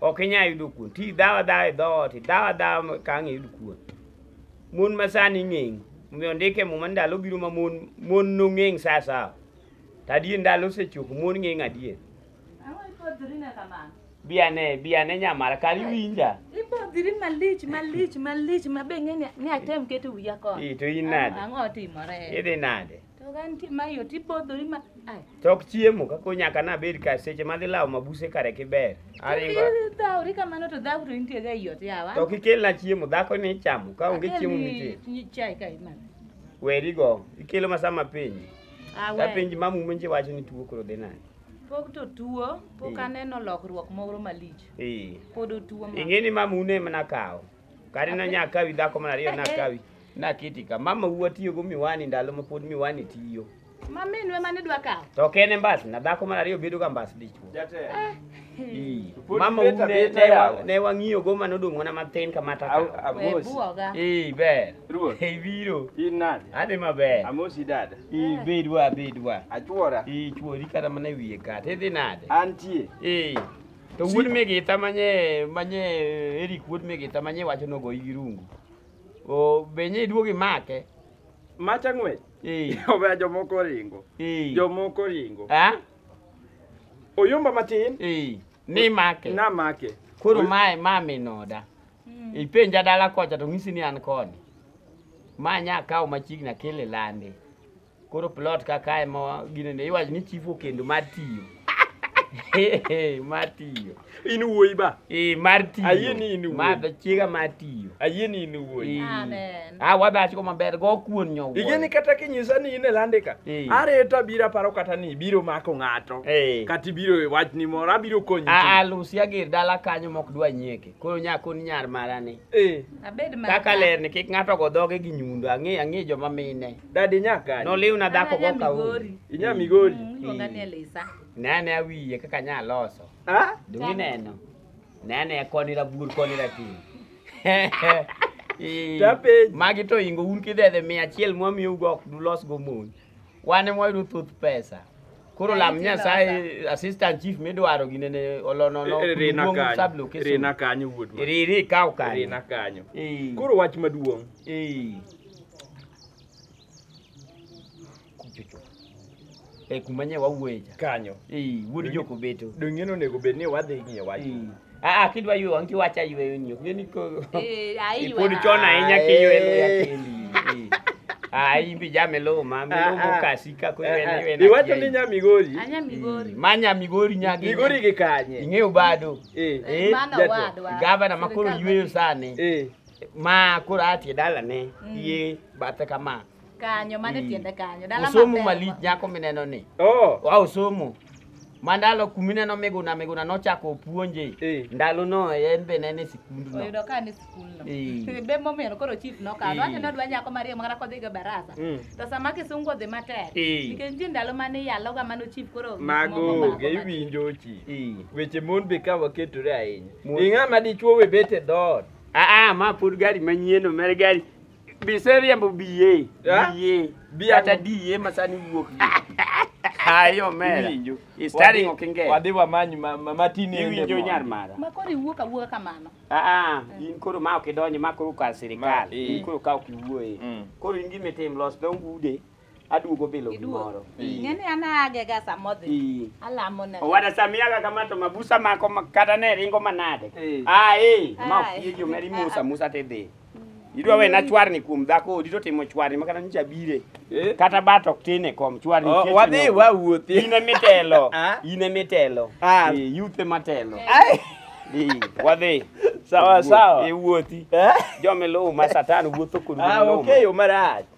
ok inyal yudo kuon ti dhawa dhawa e dhoot dhawa dhawa ka ang' iyud kuon mon ma sani ng'eng omiyo ndike muma ndalo biro ma mon mon nong'eng sa sawa to adier ndalo osechopo mon ng'eng adier biane biane nyamara kar iwinja ibodhiri malich malich malich ma be ng'e ni atem keto wiya kod to in nade ang'o timore idhi nade To ka nitie ma iye to ibodhori ma ai. Tok chiemo kaka onyaka nabed ka seche madhi lawo mabuse kare kiber. Aringo. Kidhi dhawri kamano to dhaw to intie ga iot yawa. To kikelna chiemo dhako ni ichamo ka onge chiemo mitie. Akelni Chai ka imadho. Weri go. Ikelo ma sama piny. Ah, Ka we. piny ma mume nje wacho ni tuo koro dhi nade. Pok to tuo, pok Mm. aneno lokruok moro malich. Eh. Pod otuo ma. Ing'e ni mamune mana kawo. Kare na nyakawi dhako mar ariyo nakawi. Naketi ka mama wuwa tiyogo miwani ndalo ma pod miwani tiyo. Ma minwe mane dwa kawo. To ok en e mbas na dhako mar ariyo bedoga mbas dichwo. Ii. Pod Mama beta wuwa ne- beta ne wa- yawa. ne wang'iyogo ma nodong' mana matin kama taka. Au- We Amosi. buoga. Ii ber. Ruoth. Ei biro. In nade? Adhi maber. Amosi dada. Ii bedwa bedwa. Achuora. Ii chwori kata mana e wiye kata idhi nade? Antie. Ee. To wuod migita manye manye Eric wuod migita manye wacho nogoyi gi rungu. O benye iduog imake. Macha ng'wech. Eh. Owe jomoko oringo. Eh. Jomoko oringo. Ah? Oyomba matin. Eh. Ni make. Na make. Koro mae ma minoda. Mm. Ipenja dala kocha to ng'isi ni an koni. Ma nya kawo machiegni akele lande. Koro plot ka kae ma gine ne iwacho ni chief okendo mar tiyo. mar tiyo. In wuoyi ba. Eh mar tiyo. Ayie ni in wuoyi. Ma be chiega mar tiyo. Ayie ni in wuoyi. Eh. Amen. Ah wadach ko maber go kuon nyowo. Ige ni kata kinyisa ni in e landika. Eh. Areto abiro aparo kata ni ibiro mako ng'ato. Eh. Kata ibiro e wach ni moro abiro konyi. Ah ah Lucy ager dala kanyo mok dwa nyeke. Koro nya kon nyar marani. Eh. Abed mar. Kaka ler ni kik ng'ato go dhoge gi nyundo. Ang'e ang'e joma mine. Dadi nyaka. Noliw na dhako go ka uri. Inya migori. Iluonga ni Elisa. Nene awiye kaka nya loso. Ah? Dungi neno. Nene koni rabur koni ratin. Tapej. Magi to ingo un kidhedhe mia achiel mwamiyo ugo ok dulos go mon. Wane mwayudo thoth pesa. Koro lam Nyasaye assistant chief midwaro gine ne olonono Rina duong' kanyo. sublocation. Rina kanyo wuod ma. Riri kaw kanyo. Rina kanyo. Eh. Koro wach maduong'. Eh. Kuchocho. Eh, kuma nye wawuoye cha. Kanyo. Eh, wuod Donge- Jokobeto. Donge ni onego bed ni wadhi ng'iyo wach. Eh. Ah, ah, kidwa ywe wang' tiwacho ayweyo ni ok ng'e ni ko- Eh, ayi pod wa. chon ahinya kiywe luya Aye. kendi. Eh. Ah, in bi jame lowo ma, mi lowo Ah, ah. mokasi ka ko ywe na ywe na Iwacho ni kiayi. nya Migori. Anya Migori. Eh, Ma nya Migori nyagi. Migori gi kanye? Ing'eyo bado. Eh. Eh, Mano jatelo. wadwa. Gavana ma koro Sirikal yweyo mabiro. sani. Eh. ma koro atie dalane Mm. ye bathe kama kanyo mane Mm. tiende kanyo dala osomo maber malich ma- nyako mineno ni Oh. wa osomo mandalo kumineno miguna miguna nochako opuonje Eh. ndalo no en be nene sikund no oyudo ka ni skul no Eh. be momiyo koro chief nokawo Eh. wacho ni odwa nyako mariyo mana kodhi go barasa Mm. to sama kisungu odhi matek Eh. nikech nitie ndalo mane iyaloga mano chief koro Mago moko onge mako iwinjo chi. Eh. Weche mon be ka waketore ahinya. Mon- Ing'ama dichuo we bet e dhoot. aa ma pod gari manyien omer gari Biseriembo biye. Yeah. Biye. Biye. Kata diye masani wuok. Ayo omera. Iwinjo. He's studying Wadhi- Okenge. Wadhi wamany ma- ma- matin ende Iwinjo mondo. nyar mara. Ma koro iwuok awuoka kamano. Ah, in koro ma ok idonje ma koro kar sirikal. Ma- eh. In koro ka ok iwuoye. Mm. Koro in gima itim los dho ude Aduogo bilo gimoro. Ng'e ni an aagega sama odhi. Ii. Alamo na. Owada samiaga kama to mabusa mako ma- kata ne ringo manade. Eh. Ah eh, ma Ai. ofie jo meri musa musa te dhi. Idwa we na chwarni kuom dhako odi to timo chwarni makata nyicha bire. Eh. Kata bat ok tin e kom chwarni. Oh, kech wadhi nyoko. wawuothi. In emitelo. Ah. In emitelo. Ah. Eh, Youth ematelo. Ai. Ii, Wadhi. Sawa sawa. E wuothi. Eh? Jomiluw ma satan wuotho kod Ah, wuoth okay, marach.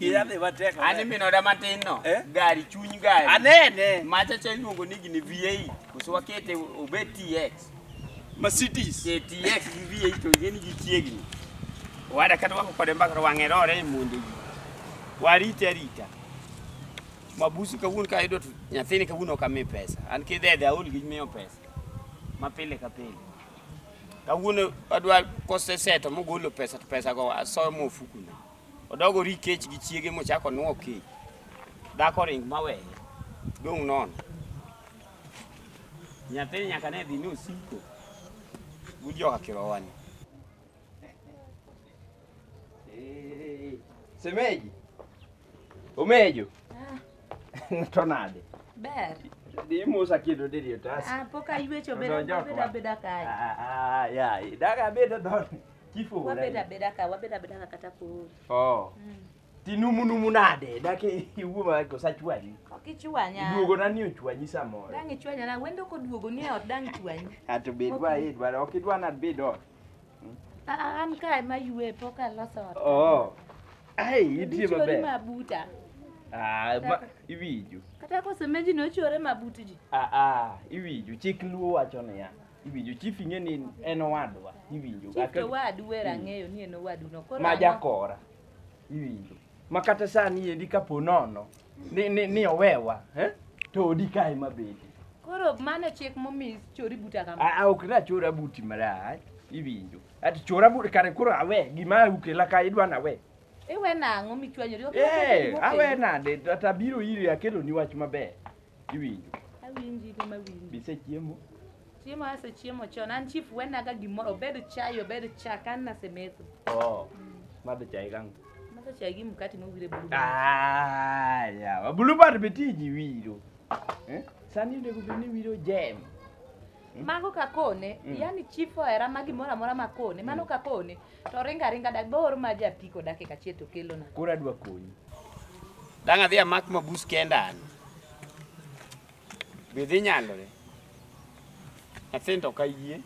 Iyadhe matek. An iminoda matin no. Eh? Gari chuny gari. Anene. Macha cha iluongo ni gini V8. Koso wakete obed TX. Mercedes. Ke TX gi V8 to ing'e ni gichiegni. Wada kata wako kode mbaka to wang'e rore e monde ji. Warite arita. Mabusu kawuono ka ayudo to nyathini kawuono ok ami pesa. An kidhedhe aol gi miyo pesa. Ma pile ka pile. Kawuono adwa koseseto mogolo pesa to pesago asoyo mofukuna. Odogo ri kech gi chiege mochako onwo kech. Dhako ring maweye. Dong' nono. Nyathini nyaka ne dhi ni osiko. But joka kirowani. Eh, Semeji. Omejo. To nade? Ber. Dhi mosa kendo diri otas. Ah, pok aywecho Odonjo bedo kwa. bedo abeda kae. Ah, ah, ya, daga bedo dhot. Chief Ogola. Wabed abeda ka, wabed abeda ka kata koro. Oh. Tinumu numu nade? Dak iwuo ma ko sachwanyi. Ok ichwanya. Duogo na ni ochwanyi samoro. Dang' ichwanya na, wendo koduogo ni e ot dang' ichwanyi. Ato bed wa e dwaro ok idwa na bed ot. A- a- An ka ema yue pok aloso ot. Oh. Ai, itie Dichwori maber. mabuta. Ah, ma iwinjo. Kata kosemeji nochore mabut ji. Ah ah, iwinjo chik luo wacho niya. Iwinjo chief ing'e ni en owadwa. Iwinjo. Chief to wadu wera hmm. ng'eyo ni en owadu no. Koro ma jakora. Iwinjo. Ma kata sani endi kapo nono ni ni, ni owewa, eh? To odi kae mabedi. Koro mano chik momi chori buta kama. Ah, ok na chora buti marach. Iwinjo. Ati chora buti kare koro awe gima ukela ka idwa na we. Iwe nang'o michwanyori? Eh, awe nade? Ata biro iri akelo ni wach maber. Iwinjo? Awinji in ema awinji. Be isechiemo? Chiemo asechiemo chon. An chief wenaga gimoro obed chai obed chak an nasemetho. Oh. Madho chai kangu. Madho chai gi mkati mowire bulu. Ah, yawa. Bulu bad be tiji wiro. Eh? Sani onego bed ni wiro jem. Mago kakone, Mm. yani chief ohera ma gimoro amora makone, mano kakone. To ringo aringa dak bo or ma ja piko dakika achiel to kelona. Koro adwa konyi. Dang' adhi amak mabus kenda an. Be dhi nyalore? Nyathini to ok ayie.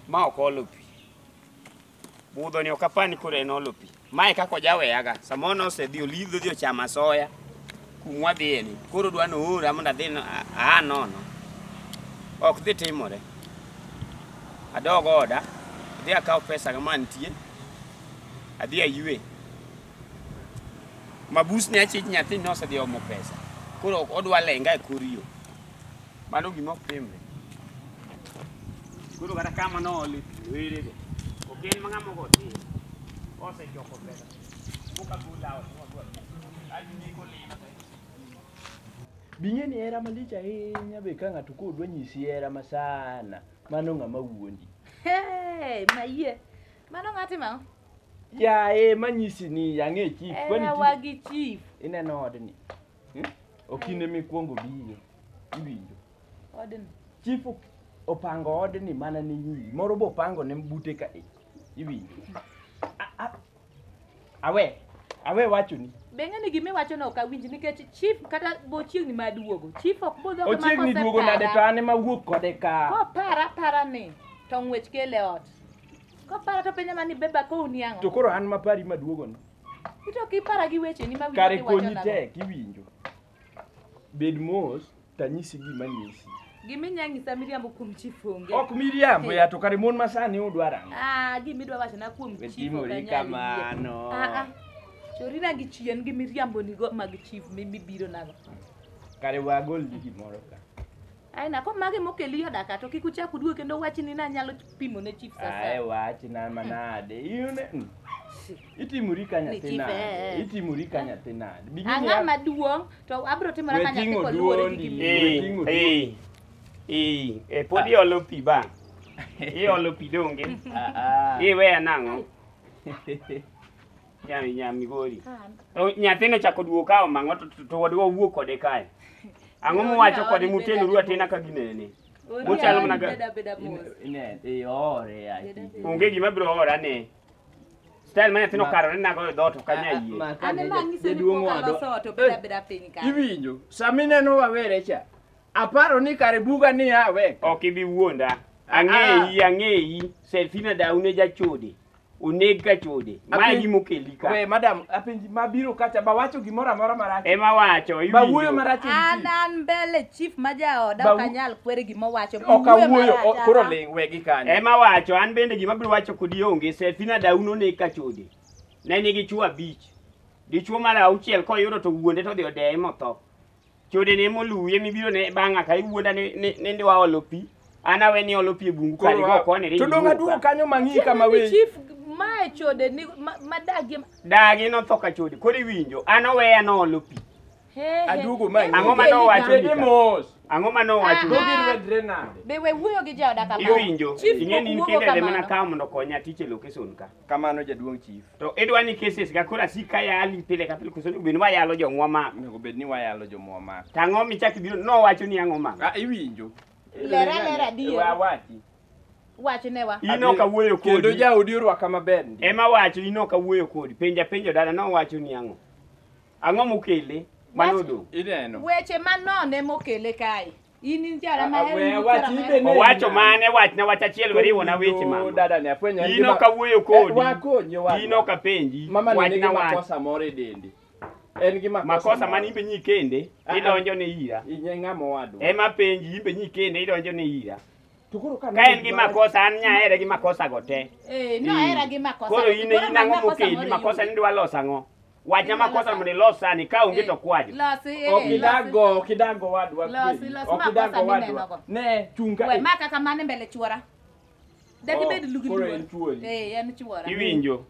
Ma ok olo pi. Budhoni ok apani koro en olo pi. Mae kaka ojaweyaga, samoro nosedhi olidho odhi ochamo asoya kumwa dhiyeni, koro dwa noora mondo adhi no- a- aa nono. Ok dhi timore. Adog oda, adhi akaw pesa kama nitie, adhi aywe. Mabusni achich nyathini nosedhi omo pesa, koro ok odwa lenga e kor yo. Mano gima ok timre. Koro kata kama noole pi werego, ok en ma ng'ama ogo tir. Osechoko pesa. Buka bula ot modwar. Kaji ni kolima to Bing'e ni hera malich ahinya be ka ng'ato koro dwa nyisi hera ma sana, mano ng'ama wuondi. Hey, mayie. Mano ng'ati ma? Yaye manyisi ni ang'e chief, kwani Era chief- wagi chief. ineno odni. Okine mikwongo biyo, iwinjo. Odni. Chief ok- opango odni mana ni nyiri, moro be opango ne bute ka e, iwinjo. A- a- Awe, awe wachoni. Be ng'ani gima iwacho no ok awinj nikech chief kata bochiegni ma duogo. Chief ok budho kama Ochiegni kose duogo nade to para. an ema wuok kode ka. Kopara para ni to ng'wech kele ot. Kopara to penja mani beba kowni ang'o? To koro an mapari maduogono. Ito kipara gi wecheni ma kare winjo konyi kiwachonago. tek iwinjo bed mos tanyisi gima nyisi Gimi nyang'isa miriambo kuom chief onge. ok miriambo ya to kare mon masani udwaro ang'o Ah, gimi dwa wachona kuom chief wetimori ok anyal yie. kamano Ah, ah. Chori na gi chien gi miriambo nigo mag chief mi mibiro nago. kare wagol gi gimoro ka Aina ko mage mokeli yo daka to kik uchak uduogi kendo wach ni na nyalo pimo ne chief sasa. Ae wach na manade. Iyune. mm. Itimuri ka Ni nyathi chief, eh, nade? eh. Itimuri ka nyathi nade? Bigini Ang'a ya- maduong to abro timora ka nyathi Wetingo ko luwore gi duondi. gimi. Eh, Ting'o eh, eh, eh, pod iolo pi ba. Iolo pi donge. Ah, ah. Iweya nang'o? Nya nya migori. To nyathine chako duogo ka omang'o to- to- to wadwa wuo kode kae. Ang'o muwacho kode mutenuru atena ka ginene? Muchalo mana ga- Ne, eh, ore ati. Onge gima biro ora ne. Style ma nyathino Ma- karore nago e dhoot ok anya yie. Ma- ka Ane ne- ma ng'ise ni jaduong' pok wadwa- aloso ot obeda beda piny ka. Iwinjo, sami neno wawere cha. Aparo ni kare buga ni awe. Ok ibi wuonda. Ang'eyi, ang'eyi. Selfina daune jachode. oneg ka chode Apenj- mae gima okeli ka we madam apenji ma biro kacha ba wacho gimoro amora marach ema wacho ba wuoyo iwinjo marach e an witi. an mbele chief ma jaoda Ba- ok anyal kwere gima owacho ok awuoyo o- koro ling wegi kanyo ema wacho an bende gima biro wacho kodi onge sefina dauno ne ka chode ne nigi chuo abich dichuo mar auchiel koyudo to wuonde to odhi odeye motho Chode ne moluwi emi biro ne bang'a ka iwuonda ni ni- ni ndiwa olo pi. An awe ni olo pi e bungu kali go kone ni. To dong' aduogo kanyo mang'i kama Chief, weyi. chief mae chode ni ma- madagie ma- Dagi notho ka chode. Koro iwinjo. An oweya nolo pi. he, he. Aduogo manyi. Ang'o ma nowacho Bende ni ka? mos. Ang'o ma nowacho? Go Ah. girwedre nade? Be we wuoyo gi jaoda kama. Iwinjo. Chief Ing'e ni in wuogo kende ema kamano. nakawo mondo okonya tich e location ka. Kamano jaduong' chief. To idwa ni cases ga koro asik ka yali pile ka pile koso obed ni wayalo jomwa ma. Onego bed ni wayalo jomwa ma. Tang'o michak ibiro nowacho ni ang'o ma. Ah iwinjo. Lera lera adier. Wa wati. Wachne wa. In ok awuoyo kodi. Kendo jaodi orwaka maber. Ema wacho in ok awuoyo kodi. Penja penjo dala nowacho ni ang'o. Ang'o mokele? Mano do. Ineno. Weche manone mokele kae. In in jara ma Ah, we wach ibe ne- Owacho mane wachna wach achiel weriwona weche mama. Dada ne afwenyo en In gima- ok awuoyo Eh, kodi. wakonyi wadwa. In ok apenji. Mama ni nigi Wachna wach. makosa moro e dendi. En gi makosa. Makosa moro. mane imbe nyikende Ah, ah. idonjo ne ira. Inye ng'ama wadwa. Ema penji imbe nyikende idonjo ne ira. To koro ka Ka en gi makosa an nyahere gi makosa go te. Eh, no era gi makosa. Koro in in ang'o mokeli makosa ni dwa loso ang'o? Wacha makosa mnilosa ni ka onge to kwajo. Losi, eh, losi. Okidago, okidago wadwa. Losi, kweli. losi, makosa Okidago ni wadwa. nenogo. Ne, chunga. We, eh. maka kamane mbele chuora. Dak Oh, ibed lugi koro luor. en chuori. Eh, en chuora. Iwinjo.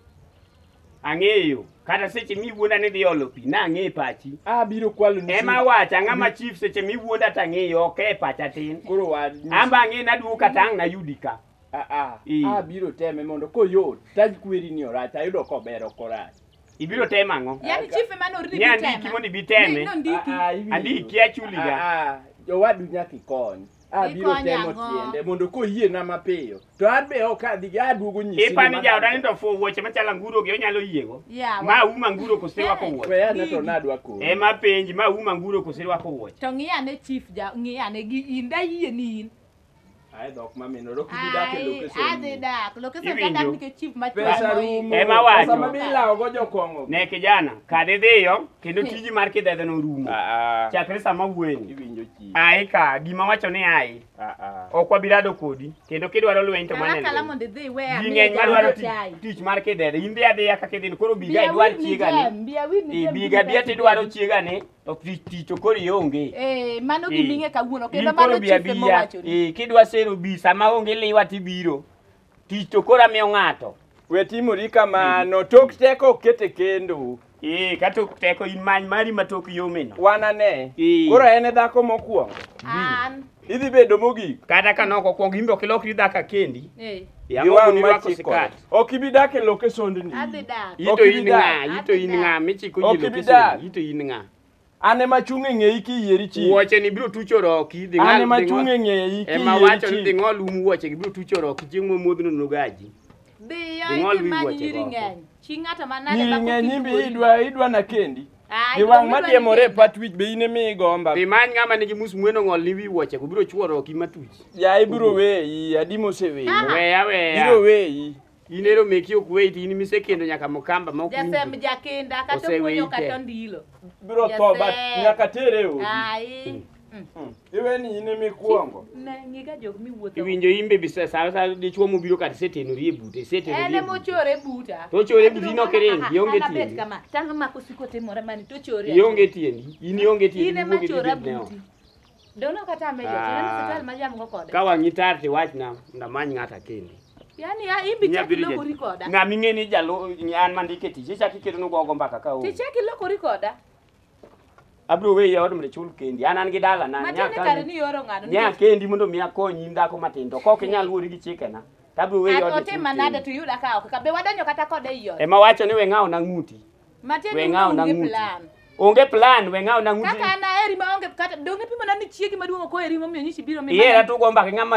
Ang'eyo. Kata seche miwuonda ni dhi olo pi, nang'e pachi. Abiro kwalo ni. Ema wacha ng'ama chief seche miwuonda tang'eyo ok e pacha tin. Koro wad. Amba ang'e naduwo kata ang' nayudi ka. Ah ah. Ii. Abiro teme mondo koyot. Taj kweri ni orach, ayudo kober ok orach. Ibiro temo ang'o? Yaani chief ema norni Ni andiki bitema. mondo ibi teme. Ne- nondiki. Ah, ah, iwinjo. Andiki achuliga. Ah, ah, Jowadu nyaka ikony. Abiro Ikony temo ang'o? tiende mondo koyiena mapiyo. To an be ok adhi aduogo nyisi. Ipa ni jaoda ni to fuo wuoche machalo anguro gi onyalo yiego. Yawa. Ma uma anguro koserwako wuoche. We ane to nadwa koro. Ema penji ma uma anguro koserwako wuoche. To ng'iyane chief ja ng'iyane gi in da yie ni in. Ai dhok mamino ro kidi dak e location. Ai, adhi dak. Location ka dak nikech chief ma Pesa rumo. Ema wacho. Pesa ma bilawo go jokongo. Ne kijana, kad idhiyo kendo tiji mar kidhedhe no rumo. Ah, ah. Chakre sama wueni. Iwinjo chi. Ai ka gima wacho ni ai. Ah, ah. Ok wabirado kodi kendo kidwaro lweny to mane. Kala mondo idhi we a. Ng'eny mar dwaro tich mar kidhedhe. Imbi adhiya kaka idhin koro biga idwar chiega ni. Biga biya tidwaro chiega ni. To tich tich to koro ionge. Eh, mano Eh. giming'e kawuono kendo In koro mano bi chife abia. mowachoni. Eh, kidwa sero bi sama onge liwa tibiro. Tich to koro amiyo ng'ato. We timori kamano, tok teko ok kete kendo. Eh, ka tok teko in many mari ma tok yomeno. Wanane. Eh. Koro en e dhako mokwongo. An Idhi bedo mogik. Kata ka nok okwong imbe ok ilokri dhaka kendi. Eh. Gi wang' machikore. Ok ibi dak e loke sondni. Adhi dak. Ito in ng'a? Ito in ng'a? Michiko ji loke sondni. Ito in ng'a? An ema achung' e ng'eyi kiyieri chi. Wuoche ni biro tucho roki. Dhi ng'al. An ema achung' e ng'eyi kiyieri chi. Ema wacho ni dhi ng'ol um wuoche gi biro tucho roki chieng' momuodhno nogaji. Dhiyo imanyi nyiri ng'eny. Chi ng'ato manade ma kok iduoyi. Nyiri ng'eny imbe idwa idwa na kendi. Ai, Gi wang' ma diemore e pat wich be in ema igomba. Dhi many ng'ama nigi mus mweno ng'ol ni wi wuoche go biro chuoro ki matuch. Ya ibiro weyi, adi moseweyi. Ah. Weya weya. Biro weyi. In ero meki ok weyi to in misekendo nyaka mukamba ma ok winji. Jasem jakinda kata Oseweyi okunyo te. kata ondilo. Biro tho ba Jasem. nyaka tere e odi. Ai. Hmm. Iwe ni in ema ikuongo. Ne ngiga jok miwuotho. Iwinjo imbe bisa sa sa dichwo mobiro kata setenori e bute, setenori. En e ema ochore buta. To ochore e buti no keren, ionge tiende. Ana kama, tang ma kusiko timore mani to ochore. Ionge tiende. In ionge tiende. In ema chora buti. Dono kata amejo, ah. tena hospital ma jamgo kode. Ka wangi tar ti wach na ndamany ngata kende. Yaani ya imbi chaki loko rikoda. Ngami ngeni jalo an mandike tije chaki kedo no gogo mbaka ka o. Ti chaki loko rikoda. abro weyi e od mondo ichul kendi an an gi dala na Matiende kare ni ioro ng'ano nya nikech kendi mondo mi akonyi in dhako matin to kok inyal wuori gi chikena to abro weyi e an od mondo otim ichul manade kendi to iyuda ka ok ka be wadonjo kata kode ei ot. ema wacho ni we ng'awo na ng'uti Matiende we ni ng'awo na onge ng'uti plan. onge plan we ng'awo na ng'uti Kaka an aheri ma onge kata donge pimo na ni chiegi maduong' ok oheri momiyo nyichi biro mi. ihera to ugo mbaka ng'ama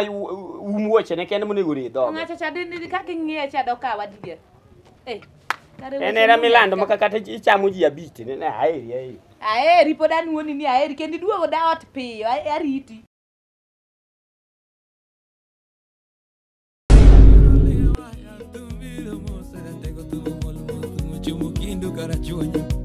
um wuochene kende monego ore dhoge Ng'acha cha dende kaka ing'iye cha dokawa dier. Eh, kare En weche era ni milando nyaka. maka kata ichamo ji abich ne ne aeri aeri. Aheri pod anuoni ni aheri kendo iduogo da ot piyo a- ariti. Tengo tu bol, tu mucho, muquindo, carachueño.